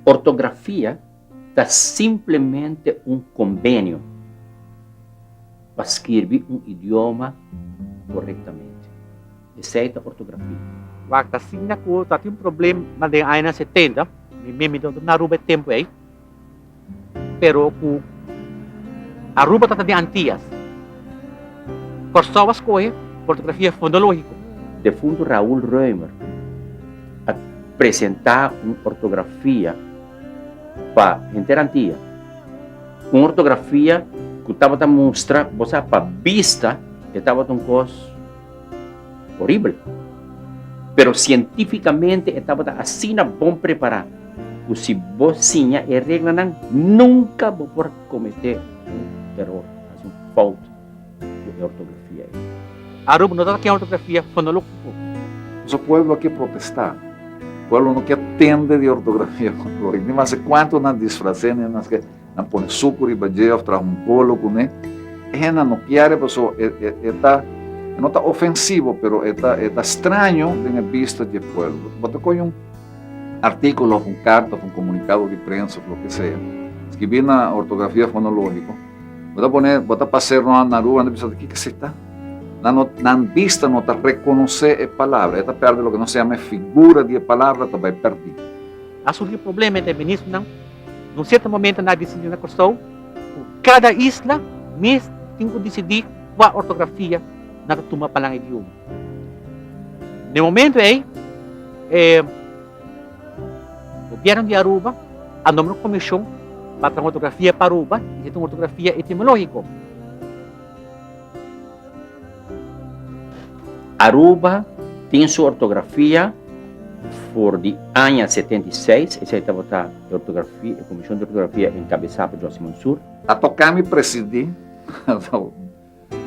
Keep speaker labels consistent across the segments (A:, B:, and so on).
A: Ortografia ta simplemente un kombenio pa skirbi un idioma korektamente. Esei ta ortografia. Wak ta asina ku ta tin un problema den añanan setenta, mi mimi ta na Aruba e tempu ei. pero cu Aruba ta ta den Antias. Corsou a scohe ortografia fonologico. Defunto Raul Roemer a presenta un ortografia pa henter Antia, un ortografia cu tabata mustra, bo sa, pa bista e tabata un cos. Horibel. Pero sientificamente e tabata asina bon prepara cu si bo siña e reglanan nunca bo por comete un eror, haci un fout cu e ortografia ey. Aruba no ta ta ken ortografia fonologico. Boso pueblo a ke protesta. Pueblo no ke atende di ortografia fonologico. Ni mas e cuanto nan disfrace ni mas ke. na pone suku riba dje of traha un bolo kuné, e hende no kier paso e e ta e no ta ofensivo pero e ta e ta straño den e bista dje pueblo. Bo ta koge un artíkulo of un karta of un komunikado di prensa of loke sea skibí na ortografia fonológiko, bo ta pone bo ta pas'é rònt nan rua nan ta bisa ta kiko esei ta? Nan no nan bista no ta rekonosé e palabra e ta pèrdè loke nos yama e figura di e palabra ta bai pèrdí. Asunti di problema entre ministronan. Na un serto momento nan a disidi na Kòrsou ku kada isla mes tin ku disidi kua ortografia nan ta tuma pa nan idioma. Na e momento ei e gobièrnu di Aruba a nombra un komishon pa traha un ortografia pa Aruba i e ta un ortografia etimológiko. Aruba tin su ortografia for di aña 76, esei tabata e ortografia, e Comision di Ortografia encabesá pa Josy Mansour. A tocá mi presidí,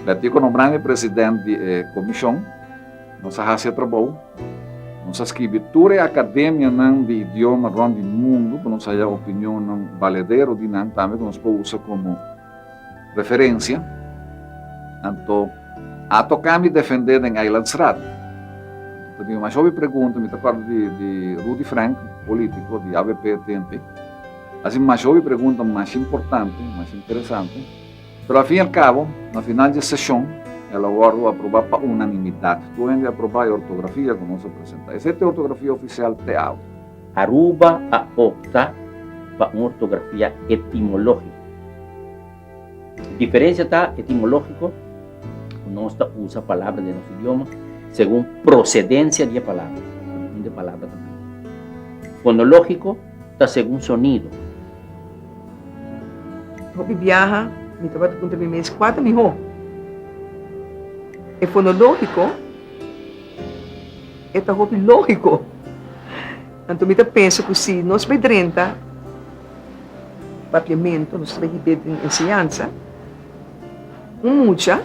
A: Betico nombrá mi president di e Comision, nos a haci e trabou, nos a scribi tur e academianan di idioma rond di mundu pa nos haya opinionnan valedero di nan tambe cu nos por usa como Referencia, Anto a toca mi defende den Eilandsraad. Ta bin mas hopi pregunta, mi ta acorda di, di Rudy Frank, politico di avp tempe. A haci mas hopi pregunta mas importante, mas interesante. Pero al fin y al cabo, na final dje sesion, el a wordo aproba pa unanimidad. Tur hende a aproba e ortografia cu nos a presenta. Esey ta e ortografia oficial te awe. Aruba a opta pa un ortografia etimológiko. E diferensia ta etimológiko ku nos ta usa palabra den nos idioma segun prosedensia di e palabra, di unda e palabra ta bini. Fonológiko ta segun sonido. Hopi biaha mi tabata puntra mi mes kua ta mihó, e fonológiko. E ta hopi lógiko. Anto mi ta pensa ku si nos bai drenta Papiamentu, nos ta bai hib'é den enseñansa, un mucha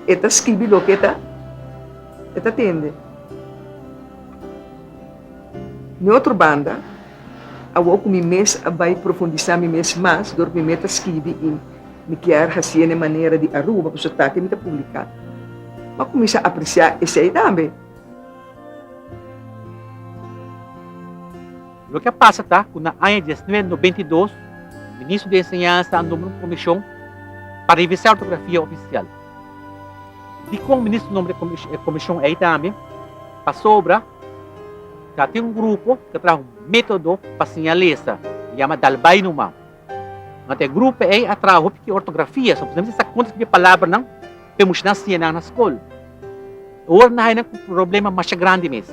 A: e ta skibi loke e ta tende. Den otro banda, awor ku mi mes a bai profundisá mi mes mas dor ku mi mei ta skibi i. Mi kier hacié n'e manera di Aruba cu su tati mi ta publica. M'a cuminsa apreciá esei tambe. Loke a pasa ta cu na aña diasnuebe nobenta i dos, Ministro di Enseñansa a nombra un comision pa revisa ortografia oficial. Dicon Ministro nombra e comision ei tambe? Pasobra ta tin un grupo cu ta traha un metodo pa siña lesa, yama dal bay numa. Ma te grupo ei a traha hopi ku ortografia, so posiblemente esaki konta skibi e palabranan pa e mushinan siña nan na skol. E ora nan haña ku problema masha grandi mes.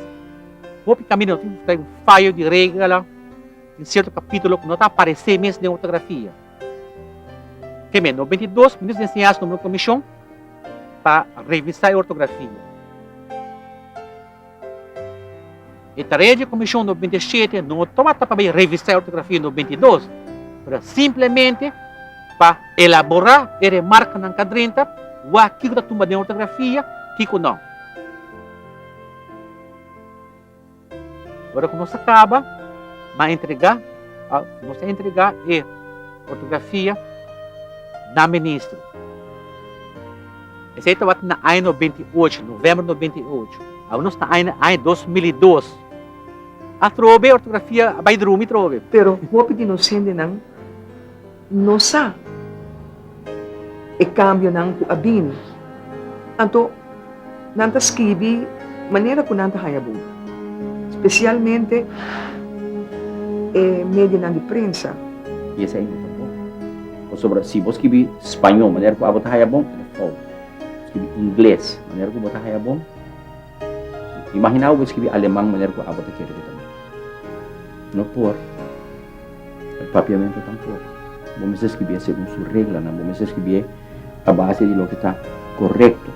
A: Hopi kaminda no tin ku buská un fayo di regla den sierto kapítulo ku no ta aparesé mes den ortografia. Te me nobenta i dos, Minister di Enseñansa nombra un komishon pa revisá e ortografia. E tarea di Comisión no binte siete no tabata pa bay revisa e ortografia no binte dos, pero ta simplemente pa elabora e remarkanan ka drenta wak kiko ta tumba den ortografia, kiko no. Ora cu nos a caba, no a entrega nos a entrega e ortografia na Ministro. Esei tabata na aña nobenta i ocho, novèmber nobenta i ocho. Awe nos ta aña aña dos mil i dos. Atrobe ortografia a bai drumi trobe. Pero hopi di nos hendenan no sa e kambionan ku a bini. Anto nan ta skirbi manera ku nan ta haña bon, spesialmente e medionan di prensa. I esei no ta bon. Pasobra si bo skibi spañó manera ku abo ta haya bon, e ta fout. Bo skibi ingles manera ku bo ta haya bon, imaginá bo bo skibi aleman manera ku abo ta kere bo ta bin. No por. El papiamentu tampok. Bo mester skibié segun su reglanan. Bo mester skibié a base di loke ta korekto.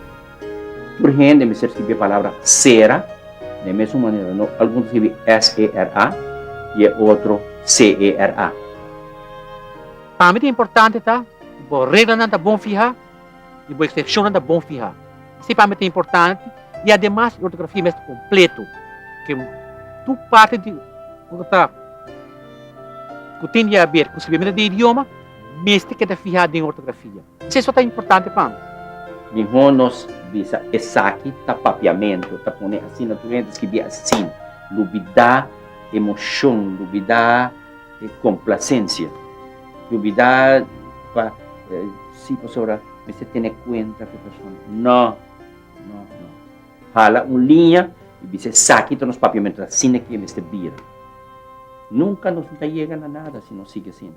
A: Tur hende mester skirbi e palabra sera, den mesun manera no algun ta skirbi s-e-r-a i e otro s-e-r-a. Pa mi ta importante ta bo reglanan ta bon fihá i bo eksepshonnan ta bon fihá. Esei pa mi ta importante i ademas e ortografia mester kompleto, ke tur parti di ku ta ta ku tin di haber ku skirbimentu di e idioma mester keda fihá den e ortografia. Seso ta importante pa mi. Miho nos bisa esaki ta papiamento, ta pone asina tur hentes ki di asin, lubida emocion, lubida e complacencia, lubida pa si pasobra mester tene cuenta cu e persona, no, no, no, hala un liña y bisa esaki ta nos papiamento, asina ki e mester bira, nunca nos no ta yega na nada si nos sigui asina.